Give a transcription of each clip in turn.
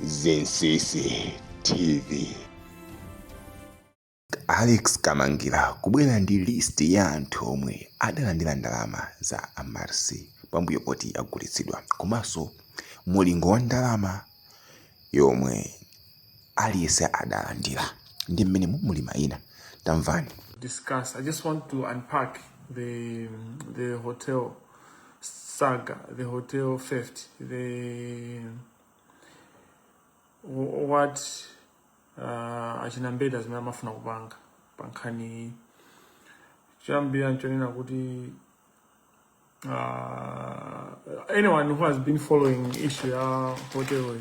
Zinsinsi TV. Alex Kamangila kubwera ndi list ya anthu omwe adalandira ndalama za Amaryllis pambuyo poti yagulitsidwa komanso mulingo wa ndalama yomwe aliyense adalandira ndi mmenemu muli mayina tamvani. discuss. I just want to unpack the the hotel saga, the hotel theft, the wh- what uh, achina Mbeta zimene amafuna kupanga pa nkhani iyi choyambirira nchonena kuti uh, anyone who has been following issue ya hotel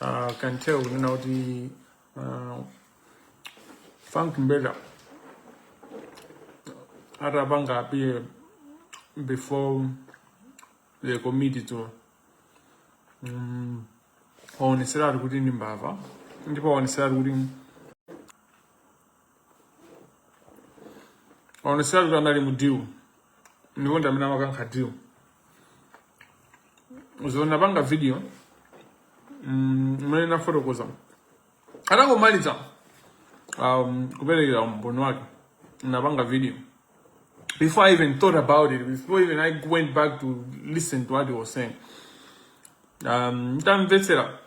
uh, can tell kunena kuti uh, frank mbeta atapanga appear before the committee to mm, waoneseratu kuti ndi mbava ndipo waoneseratu kuti onesera kuti anali mu deal ndipo ndi amene amakankha deal so napanga video mm, imene nafotokoza atangomaliza um, kuperekera umboni wake napanga video before i even thought about it before even i went back to listen to what he was saying um, ntamvetsera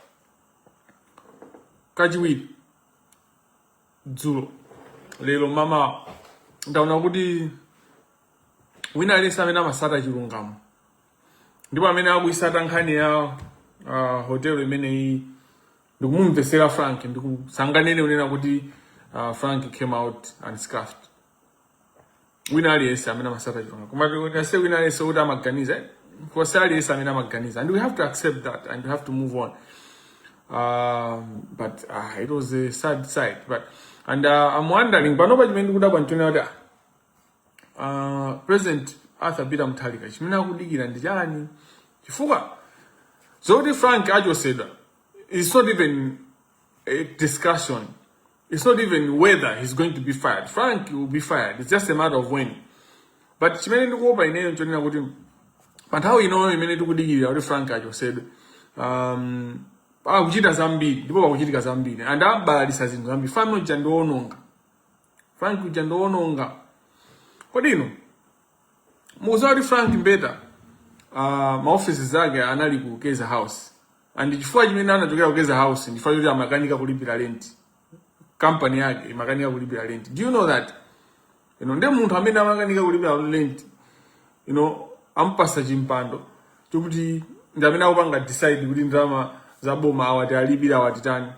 kachiwiri dzulo lero mmawa ndaona kuti wina aliyense amene amasata chilungamo ndipo amene akuyisata nkhani ya uh, hotelo imeneyi ndikumumvesera frank ndithu sanganene kunena kuti uh, frank came out unscathed wina aliyense amene amasata chilungamo koma tikase wina aliyense kuti amaganiza nkose aliyense amene amaganiza and we have to accept that and we have to move on um, but uh, it was a sad sight but and uh, i'm wondering panopa chimene ndikudabwa nchonena kuti uh, president arthur peter mutharika chimene akudikira ndi chani chifukwa zokuti frank achosedwa is not even a discussion It's not even whether he's going to be fired. Frank will be fired. It's just a matter of when. But chimene ndikuopa ineyo nchonena kuti pa nthawi inoyo imene tikudikirira kuti Frank achosedwe um, akuchita zambiri ndipo pakuchitika zambiri and abalalisa zinthu zambiri mfana uja ndi woononga Frank uja ndi woononga kodi ino mukuziwa kuti frank mbeta uh, maofesi ake anali ku keza house and chifukwa chimene anachokera ku keza house ndichifukwa choti amakanika kulipira rent kampani yake imakanika kulipira rent do you know that you know, nde munthu amene amakanika kulipira rent you know, ampasa chimpando chokuti ndi amene akupanga decide kuti ndalama za boma awati alipira awatitani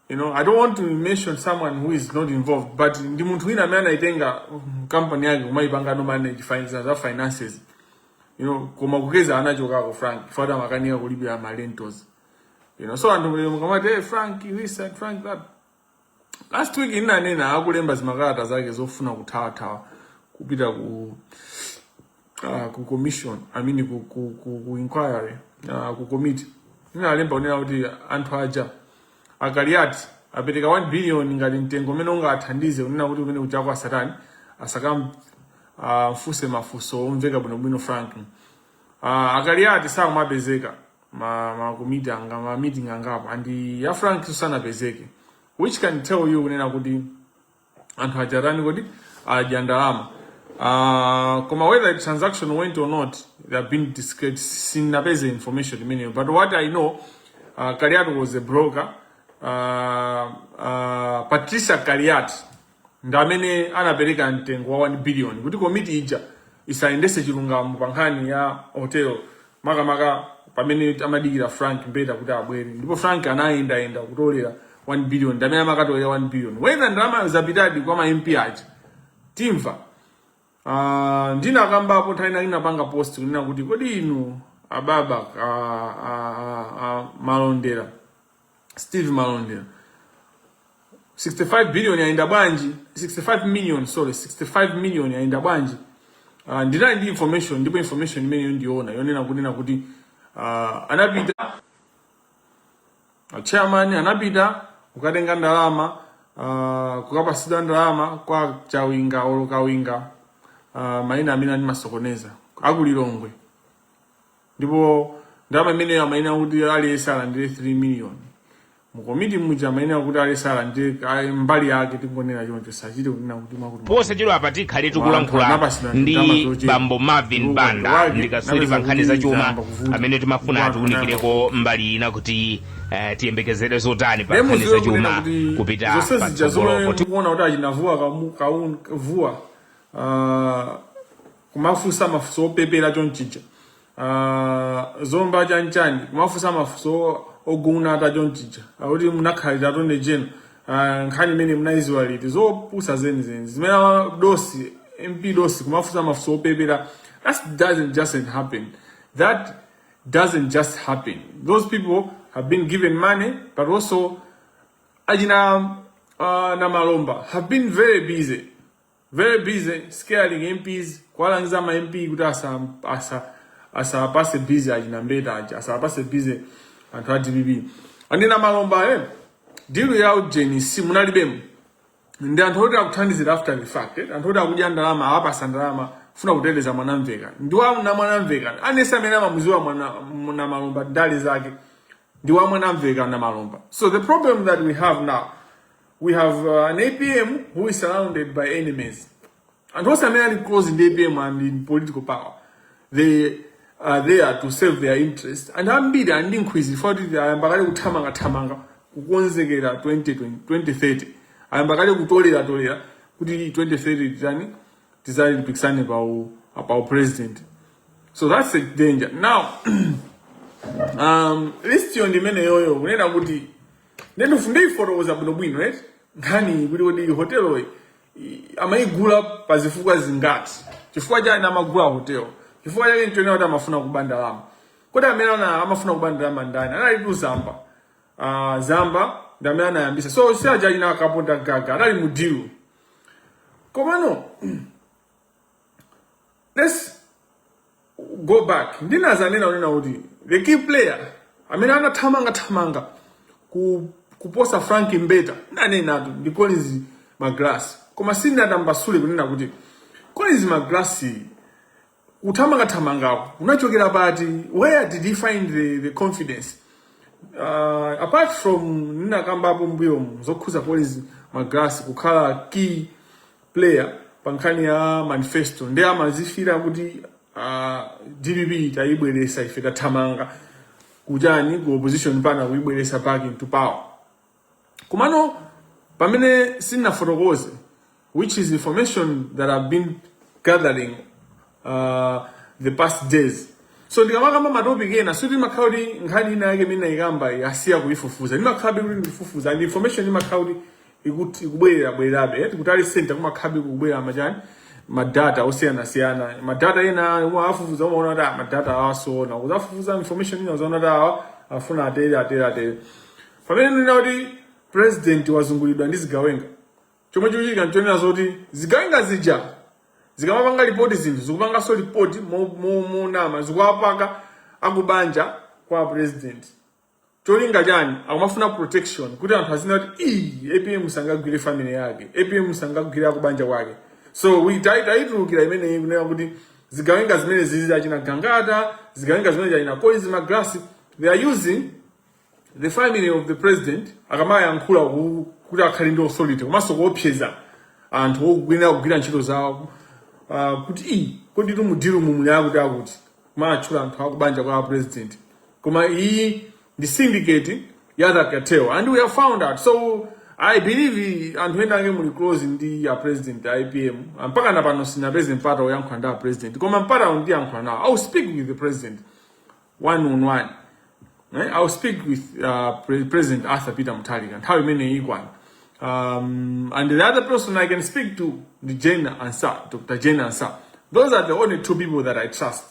You know, I don't want to mention someone who is not involved, but ndi munthu wina amene anaitenga mm, company yake kumayipanga no manage za finances. You know, koma ku Keza anachokako Frank, chifukwa amakanika kulipira ma rentals. You know, so anthu lero mukamati hey, Frank this and Frank that. Last week ndinanena akulemba zimakalata zake zofuna kuthawathawa kupita ku uh, ku commission i mean ku, ku, ku, ku inquiry uh, ku committee ndinalemba kunena kuti anthu aja akaliati apereka 1 billion ngati mtengo umene ungathandize kunena kuti umene uja kwa satani asakamfunse uh, mafunso omveka bwinobwino frank uh, akaliati samapezeka ma, ma komiti anga ma meeting angapo and ya frank sanapezeke which can tell you kunena kuti anthu aja atani kodi adya ndalama uh, koma whether the transaction went or not they have been discreet sindinapeze information imeneyo but what i know uh, kaliati was a broker uh, uh, patricia kaliati ndi amene anapereka mtengo wa 1 billion kuti komiti ija isayendese chilungamo pa nkhani ya hotel makamaka pamene amadikira frank mbeta kuti abwere ndipo frank anayendayenda kutolera 1 billion ndamene amakatolera 1 billion whether ndalamayo zapitadi kwa ma mp aja timva Ah, ndinakambapo nthawi ina ndinapanga post kunena kuti kodi inu ababa ah, ah, ah, ah, malondera Steve Malondera 65 billion yaenda bwanji 65 million sorry 65 million yaenda bwanji uh, ndinali ndi information ndipo information imeneyo ndi yoona yonena kunena kuti uh, anapita uh, chairman anapita kukatenga ndalama uh, kukapatsidwa ndalama kwa chawinga olo kawinga uh, maina amene amandisokoneza aku Lilongwe ndipo ndalama imeneyo amayenera kuti aliyense alandire 3 million mukomiti muja amayenera kuti aliyense alandire ah, mbali yake tingonena choncho sachite kunena kuti mwakuti posachedwa apa tikhale tikulankhula ndi bambo marvin banda ndi katswiri pa nkhani za chuma amene timafuna atiunikireko mbali ina kuti eh, tiyembekezere zotani pa nkhani za chuma kupita patsogolopo tikuona kuti achinavuwa kamu- kaun- vuwa ah, kumafunsa mafunso opepera chonchicha uh, zomba chanchani kumafunsa mafunso ogunata chonchicha akuti munakhalira tonde jeno uh, nkhani imene munayiziwa liti zopusa zenizeni zimene ama- dosi mp dosi kumafunsa mafunso opepera that doesn't just happen that doesn't just happen those people have been given money but also achina uh, namalomba have been very busy Very busy scaring MPs kuwalangiza ma MP kuti asa asa asapase busy achina mbeta aja asapase busy anthu a DPP ndi namalomba eh dilu ya ujeni si munalibemo ndi anthu oti akuthandizira after the fact eh? anthu oti akudya ndalama awapasa ndalama funa kuteteza mwanamvekha ndi wa mna mwanamvekha aliyense amene amamuziwa mwana mwa namalomba ndale zake ndi wa mwanamvekha namalomba so the problem that we have now we have uh, an apm who is surrounded by enemies And onse amene ali close ndi apm and in political power they are there to serve their interest and ambiri ali ndi nkhwizi chifukwa kuti ayamba kale kuthamangathamanga kukonzekera 2020 2030 ayamba kale kutoleratolera kuti 2030 tizani tizapikisane pa u- pa u president so that's a danger now um, list yo ndi imeneyoyo kunena kuti Nde ndifuna ndifotokoze bwino bwino eti nkhani kuti kodi hoteloyi i- amayigula pa zifukwa zingati chifukwa chani amagula hotelo chifukwa chake nchonena kuti amafuna kuba ndalama kodi amene ana amafuna kuba ndalama ndani analitu zamba uh, zamba ndi amene anayambisa so si aja achina a kapondamgaga anali mudilu komano let's go back ndinazanena kunena kuti the key player amene anathamanga thamanga ku kuposa frank mbeta nanenatu ndi collins magalasi koma sindinatambasule kunena kuti collins magalasi kuthamanga thamangako kunachokera pati where did he find the, the confidence uh, apart from ndinakambapo mbuyomu zokhuza collins magalasi kukhala key player pa nkhani ya manifesto ndi amazifira kuti uh, dpp tayibweresa ife tathamanga kuchani ku opposition mpaka kuyibweresa back into power komano pamene sinafotokoze which is information that i've been gathering uh, the past days so ndikamakamba matopic ena sikuti imakhala kuti nkhani ina yake imene ndaikamba ndasiya kuifufuza ndimakhalabe kuti ndifufuza and information imakhala kuti ikut- ikubwerera bwererabe eh, tikutali center kumakhalabe kubwera machani madata osiyanasiyana madata ena umawafufuza umaona kuti ah, madata awa zoona kuzafufuza information ina uzaona kuti awa afuna atere atere atere pamene ndinena kuti president wazungulidwa ndi zigawenga chomwe chikuchitika nchonena zoti zigawenga zija zikamapanga report zinthu zikupanganso report monama zikuwapaka akubanja kwa president cholinga chani akumafuna protection kuti anthu azinena kuti ii apm sangagwire family yake apm sangagwire akubanja kwake so taitulukira imeneyi kunena kuti zigawenga zimenezizi achina gangata zigawenga zimene achina collins magalasi they are using the family of the president akamayankhula ku- kuti akhale ndi authority komanso kuopseza anthu okuyenera kugwira ntchito zawo ah, kuti iyi kodi timudiru mumuni akuti akuti kumatchula anthu akubanja kwa president koma iyi ndi syndicate ya that cartel and we have found out so i believe anthu ena ake muli close ndi a president APM mpaka na pano sindinapeze mpata oyankhula ndi a president koma mpata ndiyankhula nawo i will speak with the president one on one eh? I'll speak with uh, Pre- President Arthur Peter Mutharika nthawi imeneyi ikwana um, and the other person I can speak to ndi Jane Ansah Dr. Jane Ansah those are the only two people that I trust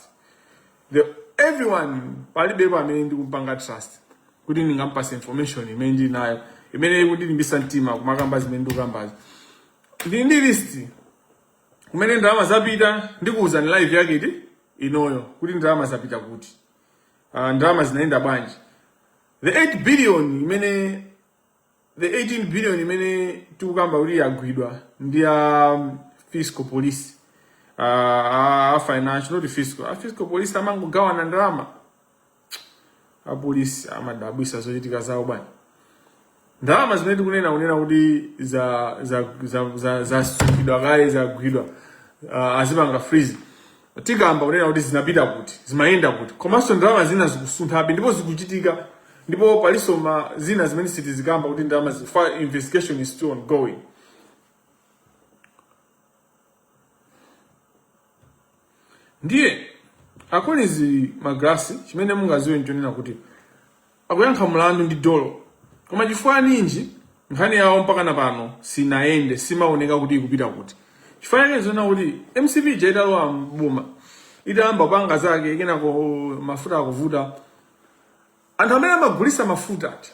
the everyone palibepo amene ndikumpanga trust kuti ndingampatse information imene ndinayo imene ikundilimbisa mtima kumakamba zimene ndikukambazo ndili ndi list kumene ndalama zapita ndikuwuzani live yake iti inoyo kuti ndalama zapita kuti uh, ndalama zinayenda bwanji the 8 billion imene the 18 billion imene tikukamba kuti yagwidwa ndi a um, fiscal police uh, a financial not fiscal a fiscal police amangogawana ndalama apolisi amadabwisa zochitika zawo bwana ndalama zimene tikunena kunena kuti za za za za zasungidwa kale zagwidwa uh, azipanga freeze tikamba kunena kuti zinapita kuti zimayenda kuti komanso ndalama zina zikusunthabe ndipo zikuchitika ndipo palinso ma zina zimene sitizikamba kuti ndalama chifukwa investigation is still ongoing ndiye a collins magalasi chimene mungadziwe nchonena kuti akuyankha mlandu ndi dolo koma chifukwa ninji nkhani yawo mpaka na pano sinayende simaoneka kuti ikupita kuti chifukwa chake nchonena kuti mcp ija italowa m'boma itayamba kupanga zake kenako mafuta akuvuta anthu amene amagulisa mafuta ati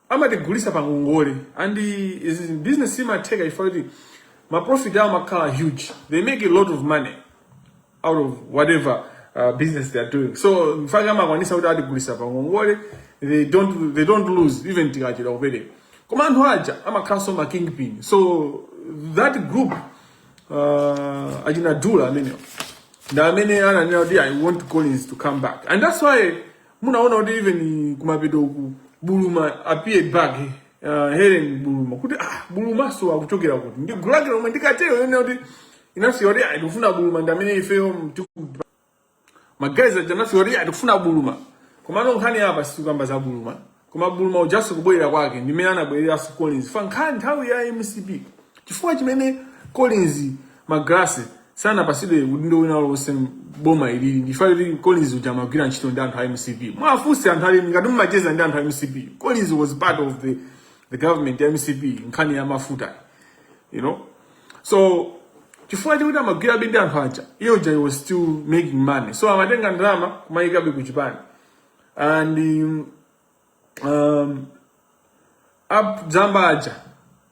amatigulisa pa ngongole and this business imatheka chifukwa kuti ma profit awo amakhala huge they make a lot of money out of whatever uh, business they are doing so in fact amakwanisa kuti atigulisa pa ngongole they don't they don't lose even tikachedwa kupereka koma anthu aja amakhalanso ma kingpin so that group uh, achina dula amenewo ndi amene ananena kuti i want collins to come back and that's why munaona kuti even kumapeto uku Buluma appeared back uh, Helen Buluma kuti ah Bulumanso akuchokera kuti ndi gulu lake lomwe ndi cartel yonena kuti inasiya kuti ah ndikufuna buluma ndi amene ifeyo tiku- ma guys aja anasiya kuti ah ndikufuna buluma komano nkhani apa sitikukamba za buluma Koma Buluma ujanso kubwerera kwake ndi mmene anabwereranso Collins ifa nkhani nthawi ya mcp chifukwa chimene Collins Magalasi sanapatsidwe udindo wina ulionse boma ilili ndi ifa kuti Collins uja amagwira ntchito ndi anthu a mcp muwafunse anthu ali ngati mumacheza ndi anthu a mcp Collins was part of the, the government ya mcp nkhani ya mafuta you know so chifukwa chikuti amagwirabe ndi anthu aja iye uja he was still making money so amatenga ndalama kumayikabe ku chipani and um, um, a Zamba aja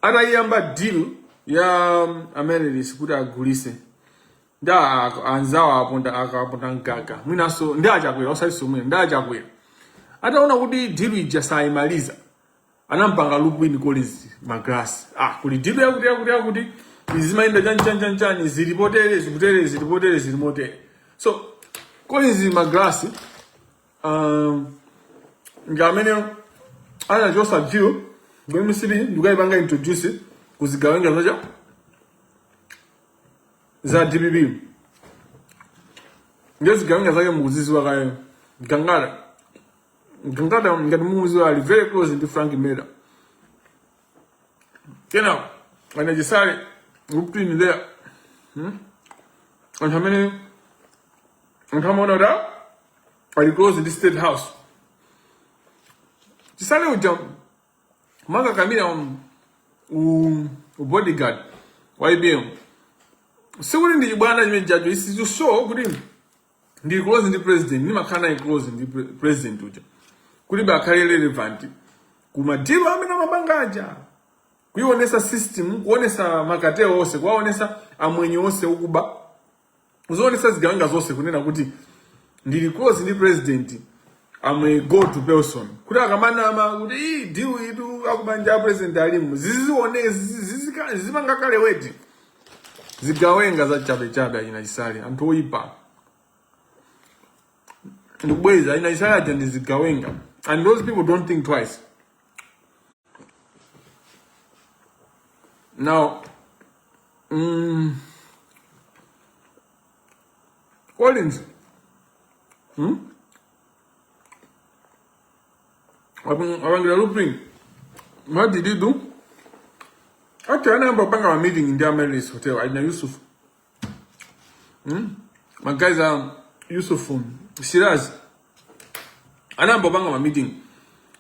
atayiyamba deal ya um, Amaryllis kuti agulise ndi anzawo aponda a Kapondamgaga mwinanso ndi a Chakwera osatinso mwina ndi a Chakwera ataona kuti deal ija sayimaliza anampanga loop in Collins Magalasi ah kuli deal yakuti yakuti yakuti izi zimayenda chani chani chani chani zili potere zikutere zili potere zili motere so Collins Magalasi um, ndi amene anachotsa deal ku mcp ndikukayipanga introduce kuzigawenga zake za dpp ndiye zigawenga zake mukuzidziwa kaya Gangata Mtungata ngati mukumudziwa ali very close ndi Frank Mbeta. Kenako ana Chisale looped in there. Hmm? Anthu amene anthu amaona kuti ah, ali close ndi State House. Chisale uja amakakamira um, u, u bodyguard wa APM. Sikuti ndi chibwana chimene chija it's to show kuti ndili close ndi president ndimakhala naye close ndi pre- president uja kuti azikhalabe relevant ku madilu amene amapanga aja kuionetsa system kuonetsa ma cartel onse kuwaonetsa amwenye onse okuba kuzionetsa zigawenga zonse kunena kuti ndili close ndi president I'm a go to person kuti akamanena kuti "Ii, deal itu akubanja a president alimu zizione zizipanga carry weight zigawenga zachabechabe achina Chisale, anthu oyipa ndikubwereza achina Chisale aja ndi zigawenga, and those people don't think twice. Now, mm, Collins, hmm? apangira looting what did you do okay anayamba kupanga ma meeting ku Amaryllis hotel achina yusuf hmm? my guys are um, yusuf um, shiraz anayamba kupanga ma meeting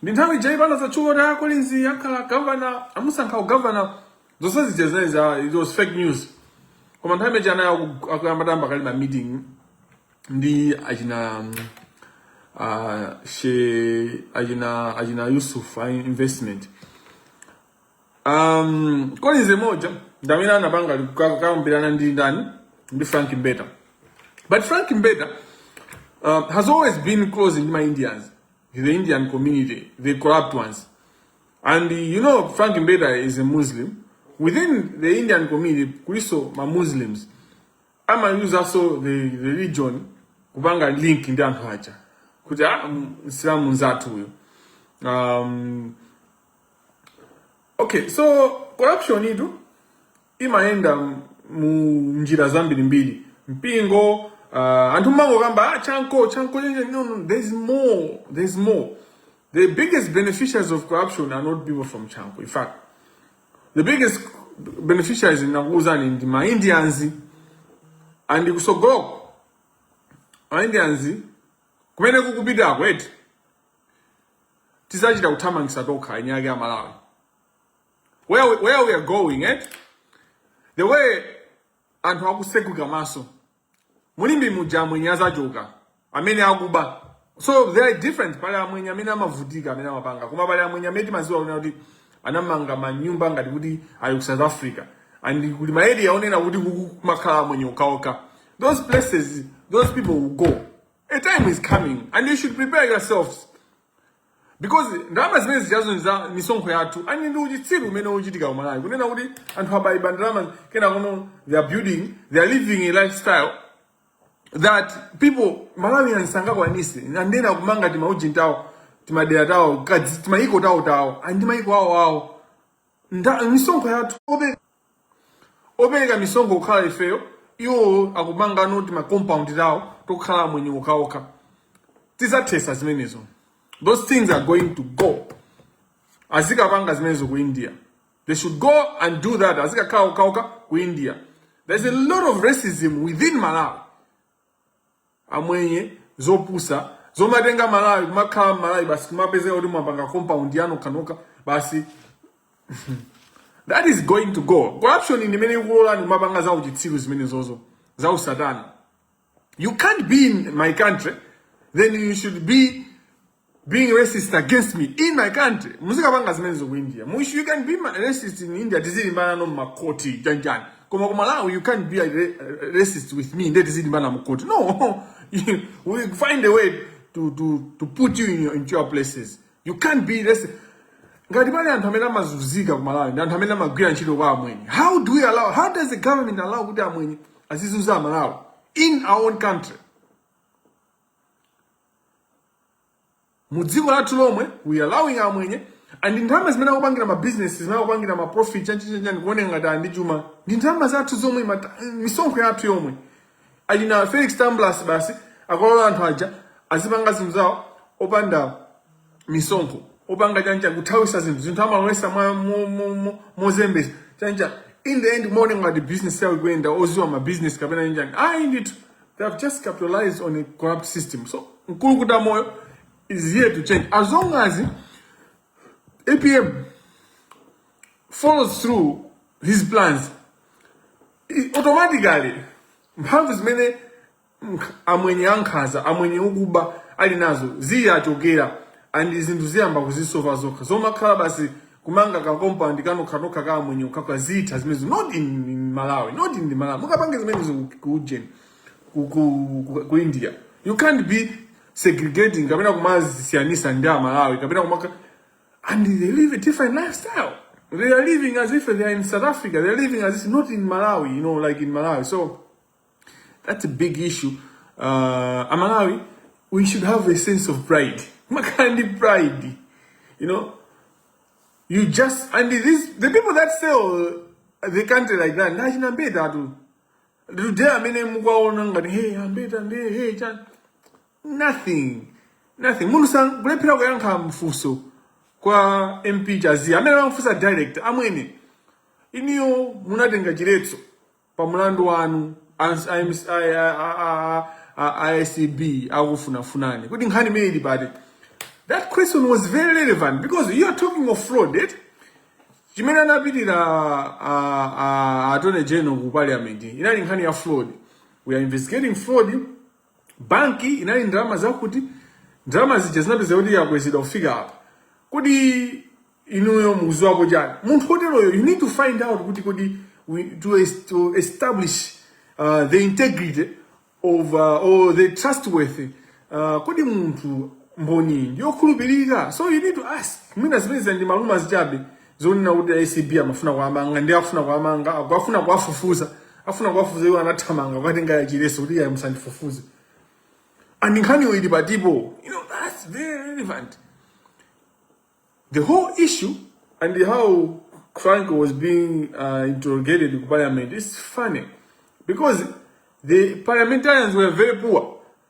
ndi nthawi ija pano zatchuka kuti akolinzi akhala gavana amusankha ugavana zonse zija zinali za it was fake news koma nthawi imene ija anali akuyamba timakali ma meeting ndi achina mm, ah, she achina achina Yusuf a investment um, kolinzi mmodzi ndamene anapanga ka- kukambirana ndi ndani ndi frank mbeta but frank mbeta uh, has always been close ndi ma indians the indian community the corrupt ones and uh, you know frank mbeta is a muslim within the indian community kuliso ma muslims amayuzaso the religion kupanga link ndi anthu aja kuti a ah, msilamu nzathu uyo um, okay so corruption itu imayenda mu njira zambirimbiri mpingo uh, anthu mmangokamba ah, chanko chanko no, no, there's more there's more the biggest beneficiaries of corruption are not people from chanko in fact The biggest beneficiaries ndinakuwuzani ndi ma Indians and kusogoloko ma Indians kumene kukupitako eti tizachita kuthamangisa tokha eni ake a Malawi where, we- where we are going eti the way anthu akutsekuka maso Mulimbi muja amwenye azachoka amene akuba so they are different pali amwenye amene amavutika amene amapanga koma pali amwenye amene timaziwa kunena kuti anamanga manyumba ngati kuti ali ku south africa and kuli ma area onena kuti kumakhala amwenye okhaokha those places those people will go a time is coming and you should prepare yourselves because ndalama zimene zijazo ndi za misonkho yathu and ndi uchitsiru umene uchitika ku malawi kunena kuti anthu akaiba ndalama kenakono they are building they are living a lifestyle that people malawians sangakwanise and then a kumanga timaujini tawo timadera tawo kadzi- timayiko tawo tawo and mayiko awo awo Nda- misonkho yathu opereka opereka misonkho kukhala ifeyo iwo akumangano tima compound tawo tokhala amwenye okhaokha tizathesa zimenezo those things are going to go azikapanga zimenezo ku india they should go and do that azikakhala okhaokha ku india there's a lot of racism within malawi amwenye zopusa zomatenga malawi kumakhala mmalawi basi kumapezeka kuti mwapanga compound ya nokhanokha basi that is going to go corruption ndi imene ikulolani kumapanga za uchitsiru zimenezozo za usatana you can't be in my country then you should be being racist against me in my country muzikapanga zimenezo ku india mukuti you can be ma- racist in india tizilimbana no makoti chanjani koma ku malawi you can't be a ra- racist with me nde tizilimbana mukoti no You- we find a way to, to, to put you in your, into your places you can't be racist ngati pali anthu amene amazunzika ku malawi ndi anthu amene amagwira ntchito kwa amwenye how do we allow how does the government allow kuti amwenye azizunza amalawi in our own country mu dziko lathu lomwe we allowing amwenye and ndalama zimene akupangira ma business zimene akupangira ma profit chanchichanchani kuoneka ngati ali ndi chuma ndi ndalama zathu zomwe mata- misonkho yathu yomwe ali na felix tamblas basi akulola anthu aja azipanga zinthu zawo opanda misonkho opanga chancha kuthawisa zinthu zinthu amalowesa mwa mo- mo- mo- mozembesa chancha in the end kumaoneka ngati business yawo ikuyenda oziwa ma business kapena chanchani ayi ndithu they have just capitalized on a corrupt system so mkulukuta moyo is here to change as long as apm follows through his plans i- automatically mphamvu zimene nkh- amwenye ankhanza amwenye okuba ali nazo ziwachokera and zinthu ziyamba kuzisolva zokha zomakhala basi kumanga ka compound kanokhanokha ka amwenye okhakha zitha zimenezo not in, in malawi not in malawi mukapange zimenezo ku- ku ujeni ku, ku, ku, ku india you can't be segregating kapena kumazisiyanisa ndi amalawi kapena kumaka and they live a different lifestyle they are living as if they are in south africa they are living as if not in malawi you know like in malawi so That's a big issue. Uh, Amalawi, we should have a sense of pride. Makandi pride. You know, you just, and this, the people that sell the country like that, nachina mbeta tu. Today amene mukwaona ngati, hey, ambeta ndi, hey, chan. Nothing. Nothing. Mundu sang, kulephera kuyankha mfuso kwa MP Chaziya. Amene amfusa direct, amwene. Iniyo munatenga chiletso. pa mlandu wanu ans- a MC a- a- a- a- a- a acb akufunafunani kuti nkhani imene ili apa ndi that question was very relevant because you are talking of fraud eh? chimene anapitira a- a- attorney general ku parliament inali nkhani ya fraud we are investigating fraud banki inali ndi ndalama zakuti ndalama zija zinapeza kuti yakwezedwa kufika apa kodi inuyo mukuziwapo chani munthu oteroyo you need to find out kuti kodi we, to, es- to establish uh, the integrity of uh, or the trustworthy uh, kodi munthu mboni ndiyokhulupirika so you need to ask mwina zimene zina ndi ma rumours chabe zonena kuti acb amafuna kuwamanga ndi afuna kuwamanga aku- afuna kuwafufuza afuna kuwafufuza iwo anathamanga kukatenga chiletso kuti iye musandifufuze and nkhaniyo ili patipo you know that's very relevant the whole issue and how Franco was being uh, interrogated in parliament is funny because the parliamentarians were very poor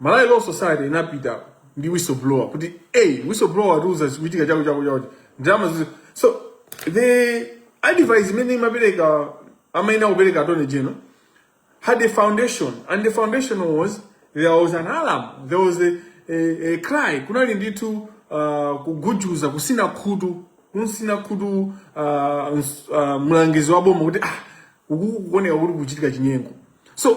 Malawi Law Society inapita ndi whistleblower kuti hey, whistleblower watiuza chikuchitika chako chako chako ndalama zizi so the advice imene imapereka amayenera kupereka attorney general had a foundation and the foundation was there was an alarm there was a, a, a cry kunali ndithu uh, kugujuza kutsina khutu kumtsina khutu uh, ns- uh, mlangizi wa boma kuti ah, kuku- kukuoneka kuti kuchitika chinyengo so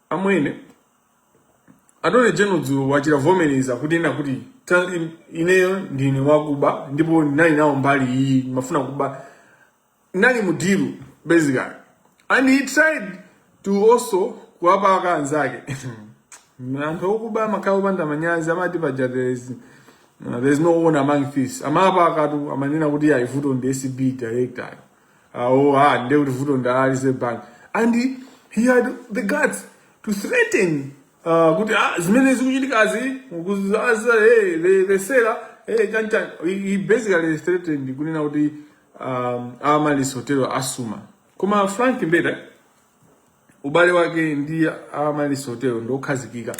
amwene attorney general dzulo wachita kuvomereza kunena kuti "Ta- in- ineyo ndine wakuba ndipo ndinali nawo mbali iyi ndimafuna kuba nali mu deal basically and he tried to also kuwapaka anzake anthu okuba amakhala opanda manyazi amati paja there is uh, there is no honor among thieves amapakatu amanena kuti ayi vuto ndi acb director Ah, oh, ah, nde kuti vuto ndi a Reserve Bank. And he, he had the guts to threaten uh, kuti ah, zimene zikuchitikazi kuzaza hey, the, the seller hey, chani chani. He, he basically threatened kunena kuti um, Amaryllis Hotel asuma. Koma Frank Mbeta ubale wake ndi Amaryllis Hotel ndi okhazikika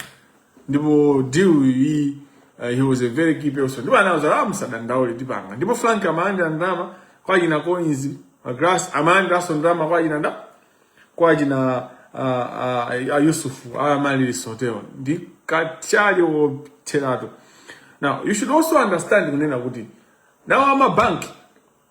ndipo deal iyi uh, he was a very key person ndipo anauza ah, musadandaule tipanga ndipo Frank amalandira ndalama kwa achina Collins Magalasi amalandiranso ndalama kwa achina nda kwa achina uh, uh, uh, Yusuf Amaryllis Hotel ndi kathyali wotheratu now you should also understand kunena kuti nawo amabanki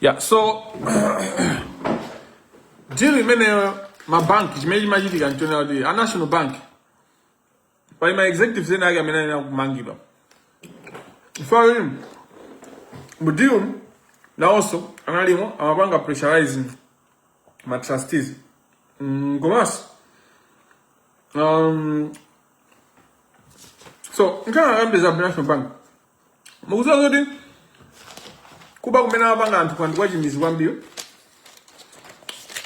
yeah so deal imeneyo mabanki chimene chimachitika nchonena kuti a national bank pali ma executives ena ake amene ayenera kumangidwa chifukwa kuti mu deal nawonso analimo amapanga pressurize ma trustees mm, komanso um, so ndisanayambe za national bank mukuziwa zoti kuba kumene amapanga anthuwa ndi kwachimidzi kwambiri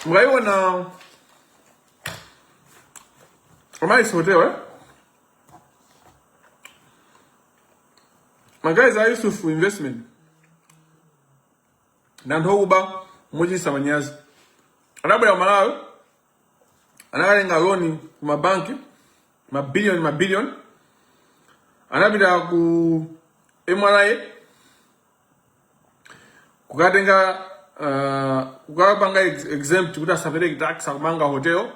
mukaiona Amaryllis hotel eh? Ma guys a Yusuf investment ndi anthu okuba mochititsa manyazi anabwera ku Malawi anakatenga loni ku mabanki mabiliyoni mabiliyoni anapita ku MRA kukatenga uh, kukapanga exempt kuti asapereke tax akumanga hotel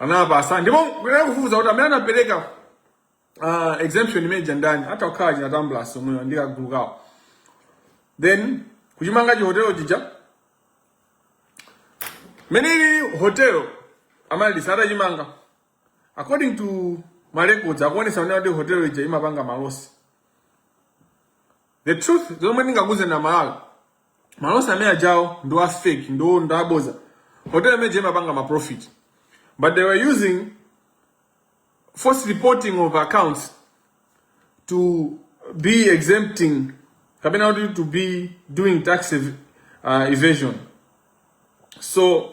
anapasa ndipo kunali kufufuza kuti amene anapereka uh, exemption imene ndani atha kukhala achina Zamba omwewa ndi kagulu kawo then kuchimanga chi hotel chija Amaryllis hotel atamaliza atachimanga according to ma records akuonetsa kunena kuti hotel ija imapanga ma loss the truth zomwe ndingakuuzeni Amalawi ma loss amene ajawo ndi a fake ndi ndi abodza hotel imene ija imapanga ma profit but they were using false reporting of accounts to be exempting kapena kuti to be doing tax ev uh, evasion so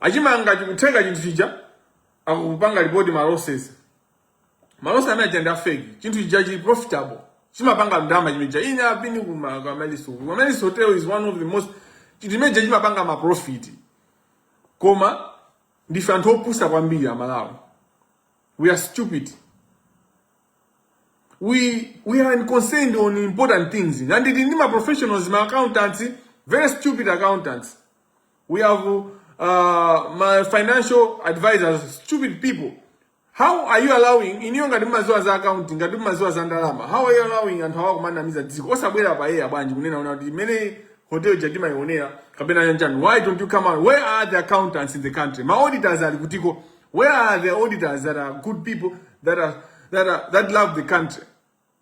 achimanga chikutha chinthu chija akupanga report ma losses ma losses amene aja ndi a fake chinthu chija chili profitable chimapanga ndalama chimene chija ine ndapitako ku Amaryllis Hotel Amaryllis Hotel is one of the most chinthu chimene chija chimapanga ma profit koma ndife anthu opusa kwambiri amalawi we are stupid we we are unconcerned on important things and ndi ma professionals ma accountants very stupid accountants We have uh, my financial advisors, stupid people. How are you allowing in your maziwa za account ngati maziwa za ndalama? How are you allowing anthu awa kumanamiza dziko? Osabwera pa yeye abwanji kunena una kuti many hotel jadima ionera kapena yanjani. Why don't you come out? Where are the accountants in the country? My auditors are kutiko. Where are the auditors that are good people that are that are that love the country?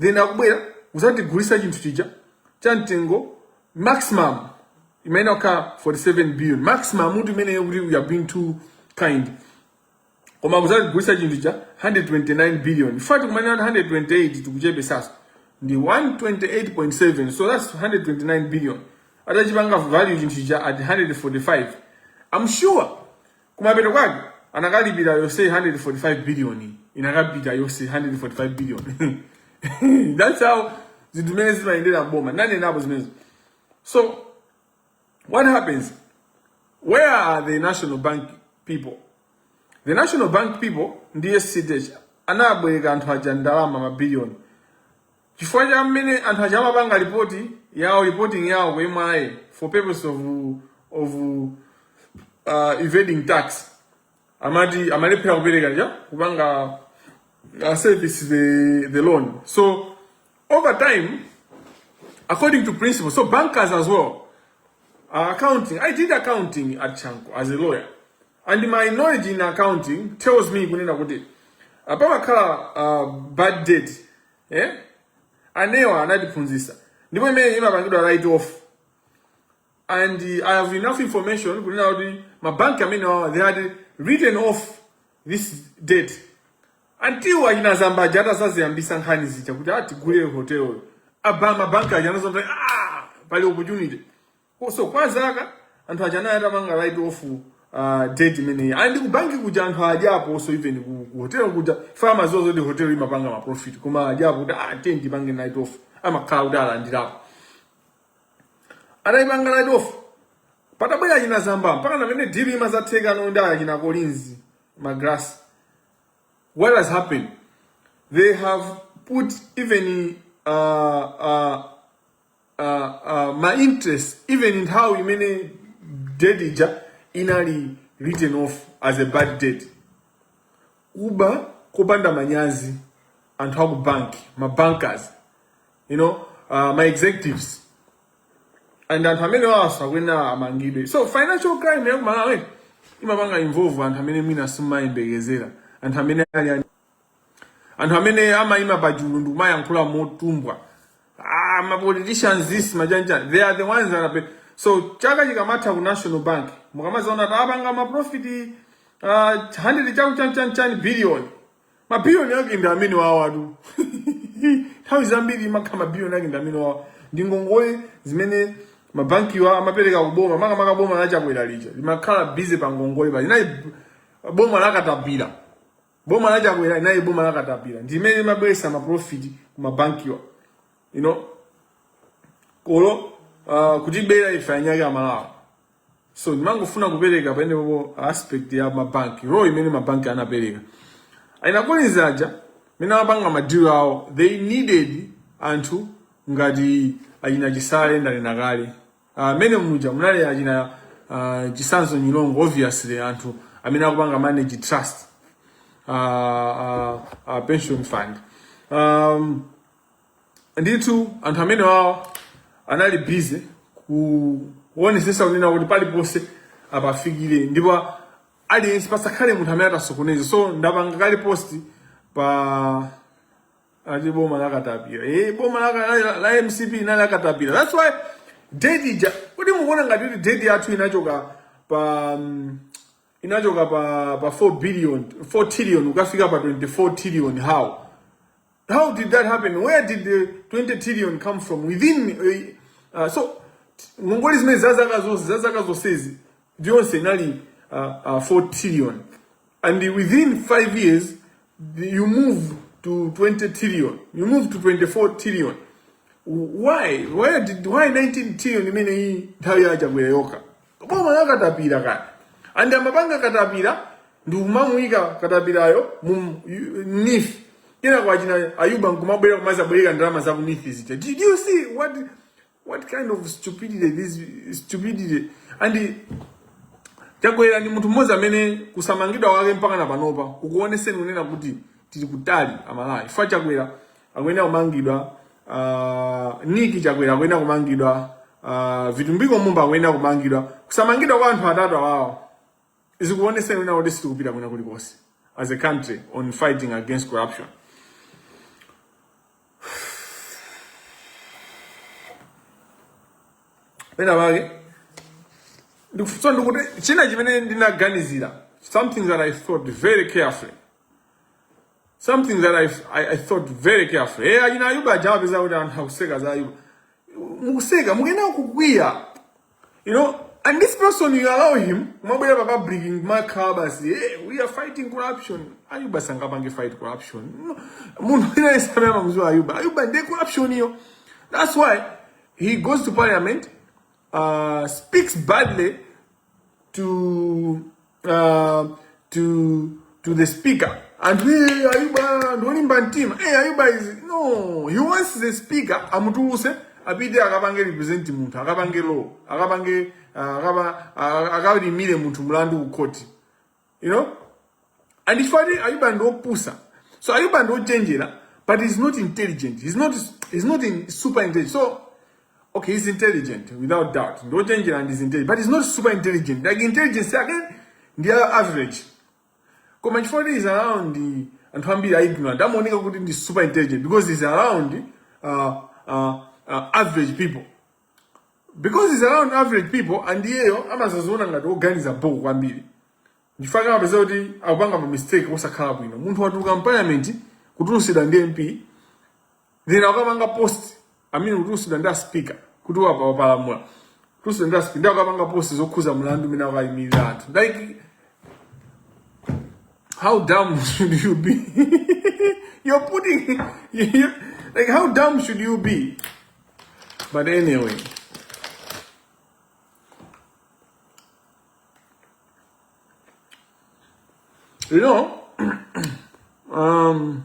then akubwera kuzatigulisa chinthu chija cha mtengo maximum imeneyo kukhala 47 billion maximum muti imeneyo kuti we are being too kind koma kuzatigulisa chinthu cha 129 billion in fact tikamanena 128 tikuchepetsatsa ndi 128.7 so that's 129 billion atachipanga value chinthu cha at 145 i'm sure kumapeto kwake anakalipira yonse 145 billion inakapita yonse 145 billion that's how zinthu zimene zimayendera m'boma ndanenapo zimenezo so what happens where are the national bank people the national bank people ndi a cdh anabwereka anthu aja ndalama mabiliyoni Chifukwa cha mmene anthu aja amapanga reporting yawo reporting yawo ku MRA for purpose of of uh, evading tax amati amalephera kupereka ja kupanga uh, service the the loan so over time according to principles of bankers as well uh, accounting i did accounting at chanco as a lawyer and my knowledge in accounting tells me kunena kuti uh, pamakhala uh, bad debt eh? anewa anatiphunzitsa ndipo imene imapangidwa write off and i have enough information kunena kuti mabanki amene wawa they had written off this debt until achina zamba aja atadzaziyambitsa nkhani zija kuti atigulitse hoteloyo apa mabanki aja anadzaona ah, pali opportunity Ko- so kwa zaka anthu aja anali atamanga write off uh, debt imeneyi and kubanki kuja anthu adyapo so even ku, ku hotel kuja farmers zozo the hotel imapanga ma profit koma adyapo kuti ah then tipange write off amakhala kuti alandirapo anaipanga write off patabwera achina zamba mpaka namene deal imazatheka ndi achina Collins Magalasi what has happened they have put even uh, uh, uh, uh, ma interest even nthawi imene debt ija inali written off as a bad debt kuba kopanda manyazi anthu aku banki ma bankers you know uh, ma executives and anthu amenewaso akuyenera amangidwe so financial crime ya kumalawi imapanga involve anthu amene mwina simumayembekezera anthu amene ali anthu amene amayima pachulu ndikumayankhula motumbwa ah, ma politicians this, ma chanichani they are the ones that are so chaka chikamatha ku national bank mukamazaona kuti apanga maprofit uh, ah, 100 chakuti chanichani billion mabiliyoni ake ndi amenewawatu nthawi zambiri maka mabiliyoni ake ndi amenewawa ndi ngongole zimene mabankiwa amapereka kuboma makamaka boma la chakwera lija limakhala busy pa ngongole paja linali boma la katapira boma la chakwera linali boma la katapira ndi imene imabweresa maprofiti ku mabankiwa you know koma uh, kutibera ife anzake amalawi so ndimangofuna kupereka paenepo aspect ya mabanki role imene mabanki anapereka ainakoniza aja amene amapanga madilo awo they needed anthu ngati achina chisale ndanena kale Ah, mene muja munali achina ah, chisanzo nyilongo obviously anthu amene amapanga manage trust ah, ah, ah, pension fund um, ndithu anthu amenewawo anali busy kuonesesa kunena kuti paliponse apafikire ndipo aliyense pasakhale munthu amene atasokoneza so ndapanga kale post pa Ati boma la katapira. Eh, boma la, la, la MCP inali la katapira. That's why debt ija. Kodi mukuona ngati kuti debt yathu inachoka pa um, inachoka pa pa 4 billion, 4 trillion kukafika pa 24 trillion how? How did that happen? Where did the 20 trillion come from? Within uh, uh, so ngongole zimene za zaka zonse za zaka zonsezi zonse inali uh, uh, 4 trillion and within 5 years you move to 20 trillion you move to 24 trillion why why did why 19 trillion imeneyi nthawi ya chakwera yokha boma la katapira kaya ndi amapanga katapira ndi kumamuyika katapirayo mu nif kenaka achina ayuba nkumabwera kumazabwereka ndalama za ku nif zija did you see what What kind of stupidity this stupidity and Chakwera ndi munthu mmodzi amene kusamangidwa kwake mpaka na panopa kukuoneseratu kunena kuti tili kutali amalawi ife Chakwera akuyenera kumangidwa uh, Niki Chakwera akuyenera kumangidwa uh, Vitumbiko Mumba akuyenera kumangidwa kusamangidwa kwa anthu atatu awawa zikuoneseratu kunena kuti sitikupita kwina kulikonse as a country on fighting against corruption pena pake nso ndikuti china chimene ndinaganizira something that i thought very carefully something that i, I, I thought very carefully eh achina ayuba aja apeza kuti anthu akuseka za ayuba mukuseka mukuyenera kukwiya You know, and this person you allow him, kumabwera pa public kumakhala basi, hey, we are fighting corruption. Ayuba sangapange fight corruption. No, Munthu wina yesame amamziwa Ayuba. Ayuba ndiye corruption iyo. That's why he goes to parliament, uh, speaks badly to uh, to to the speaker and hey, ayuba ndolimba mtima hey, ayuba is no he wants the speaker amutuluse apite akapange represent munthu akapange law akapange uh, akaba- uh, akalimire munthu mlandu ku khoti you know and it's funny ayuba ndopusa so ayuba ndochenjera but he's not intelligent he's not he's not in super intelligent so Okay, he's intelligent without doubt. Ndi ochenjera and he's intelligent, but he's not super intelligent. Like intelligence yake ndi a- average. Koma chifukwa kuti he's around ndi anthu ambiri a ignorant, amaoneka kuti ndi super intelligent because he's around uh, uh, uh, average people. Because he's around average people and iyeyo amazaziona ngati oganiza bho kwambiri. Chifukwa amapeza kuti akupanga ma mistake osakhala bwino. Munthu watuluka mu parliament kutulusidwa ndi MP then akapanga post I mean kutulusidwa ndi a speaker kuti wapa wapalamula kutulusidwa ndi a speaker nde akapanga post zokhuza mlandu umene akuyimirira anthu like how dumb should you be you're putting you, like how dumb should you be but anyway you know um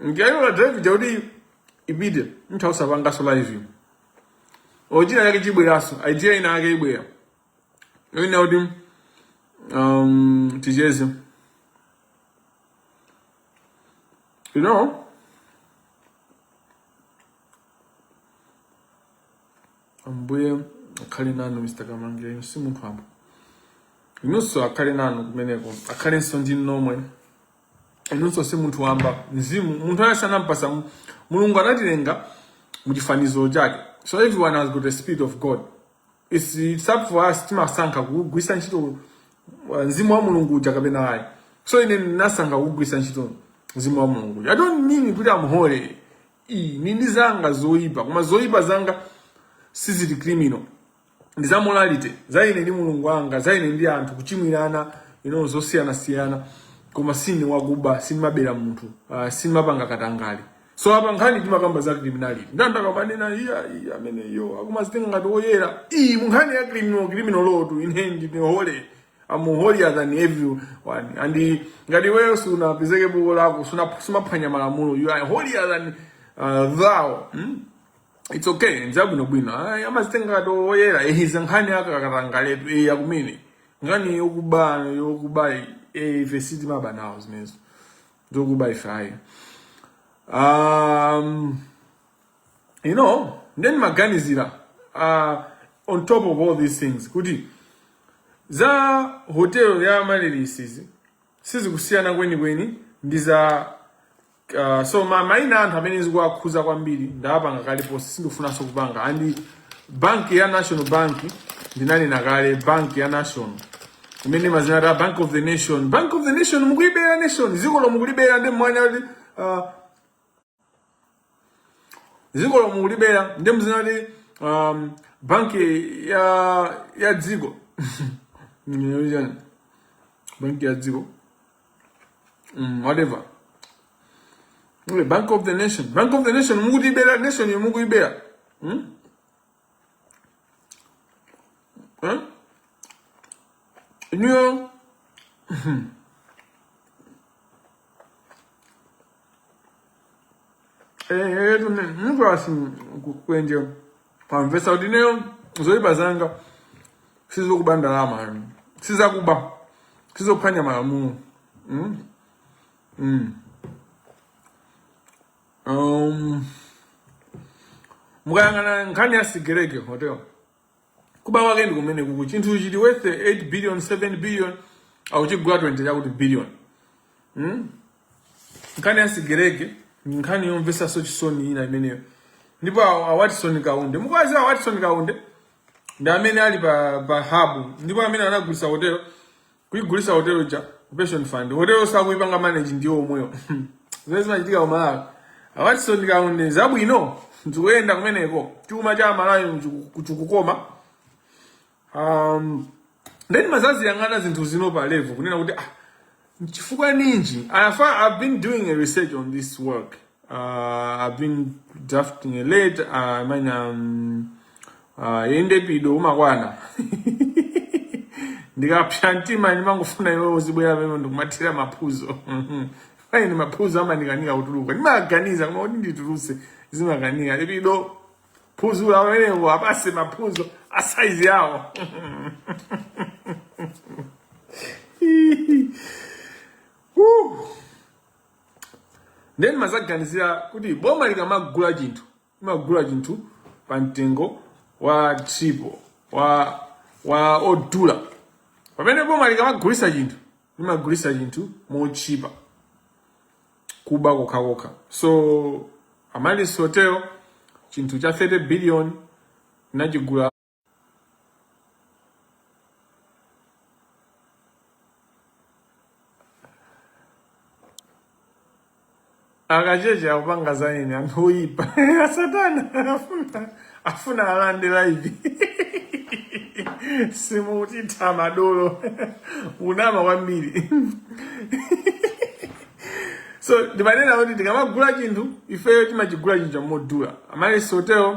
Ndiye ola drive ija kuti ipite munthu usapanganso live. China chake chibweranso, idea ina yake ibwera. Ndiye ina yoti um ticheze. You know? ambuye akhale nanu mr Kamangila si munthu wamba inunso akhale nanu kumeneko akhalenso ndi nomwe inunso si munthu wamba mzimu munthu ayi sanampasa mu- mulungu anatilenga muchifaniziro chake so everyone has got the spirit of god it's, it's up for us timasankha kugwisa ntchito uh, mzimu wa mulungu uja kapena ayi so ine ndinasankha kugwisa ntchito mzimu wa mulungu uja i don't mean kuti am holy ayi ndili ndi zanga zoyipa koma zoyipa zanga sizili criminal ndi za morality za ine ndi mulungu wanga za ine ndi anthu kuchimwirana ino zosiyana siyana koma sine wakuba sindimabera munthu uh, sindimapanga katangale so apa nkhani timakamba za criminality ndandakamanena iya iya amene iyo akumazitenga ngati oyera eti munkhani ya criminal criminal law to ine ndine holy I'm holier than everyone and ngati iweyo sunapezeke buku lako sumaphwanya malamulo you are holier than uh, thou hmm? It's okay, ndi zabwinobwino. Ay, amazitenga ngati oyera, eh, izi nkhani ya katangaletu, eh, yakumene. Nkhani yokuba, yokuba, eh, ife sitimaba nawo zimenezo. Zokuba ife ayi. Um, you know, nde ndimaganizira, uh, on top of all these things, kuti, za hotel ya Amaryllis izi, sizikusiyana kwenikweni, ndi za Uh, so ma maina a anthu amene zikuwakhuza kwambiri ndawapanga kale post sindikufunanso kupanga and banki ya national bank ndinanena kale banki ya national imene imazitcha bank of the nation bank of the nation mukuibera nation ziko lo mukulibera ndi mwanya kuti uh, ziko lo mukulibera ndi mzina kuti um, banki ya ya dziko Ndinena kuti chani? banki ya dziko mm, whatever Ule bank of the nation bank of the nation mukutibera nation yo mukuyibera hmm? huh? inuyo ehe tu ine munthu asi kwenje pamvesa kuti ineyo zoyipa zanga sizokuba ndalama yani sizakuba sizokuphwanya malamulo mm? mm. um, mukayang'ana nkhani ya sigelege hotel kuba kwake ndi komweku chinthu chili worth 8 billion 7 billion akuchigula 20 chakuti billion hmm? nkhani ya sigelege ndi nkhani yomvesanso chisoni ina imeneyo ndipo a a watson kaunde mukuwaziwa watson kaunde ndi amene ali pa pa hub ndipo amene anagulisa hotelo kuigulisa hotelo ja pension fund hoteloyo akuipanga manage ndi iwo omwewo zimene zimachitika ku malawi a watson kaunde zabwino zikuyenda kumeneko chuma cha malawi chikukoma um, nde ndimazaziyang'ana zinthu zino pa level kunena kuti ah, chifukwa ninji i've been doing a research on this work uh, i've been drafting a letter uh, I mean, um, Ah, inde epido umakwana ndikapsa mtima ndimangofuna iwe uzibwera pamene ndikumathira maphuzo koma ine maphuzo amandikanika kutuluka ndimaganiza koma kuti ndituluse zimakanika epido phuzo la wenewo apase maphuzo a saizi yawo Woo. nde ndimazaganizira kuti boma likamagula chinthu Limagula chinthu pa mtengo wa triple wa wa odula, pamene boma likamagulisa chinthu limagulisa chinthu motchipa, kuba kokhakokha. So Amaryllis Hotel chinthu cha 30 billion tinachigula. akacheche akupanga za ine anthu oyipa asatana afuna alande live simutitha madolo unama kwambiri so ndimanena kuti tikamagula chinthu ifeyo timachigula chinthu chamodula Amaryllis Hotel